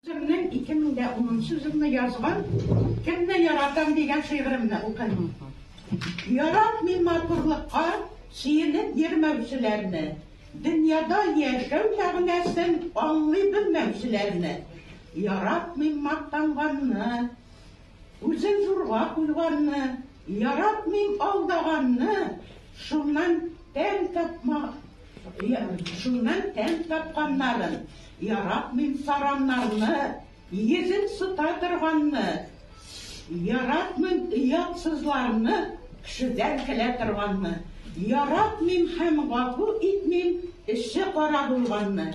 Үземнең ике мең дә унынчы җылны язган Кемне яратам дигән шигыремне укыйм. Яратмыйм матурлыкка сөенеп йөрмәүчеләрне, дөньяда яшәү мәгънәсен аңлый белмәүчеләрне. Яратмыйм мактанганны. Үзен зурга куйганны, яратмыйм алдаганны, шуннан тәм тапма, шуннан тәм тапканнарын, яратмыйм сараннарны, йөзен сыта торганны, яратмыйм оятсызларны, кешедән көлә торганны, яратмыйм һәм гафу итмим эше кара булганны,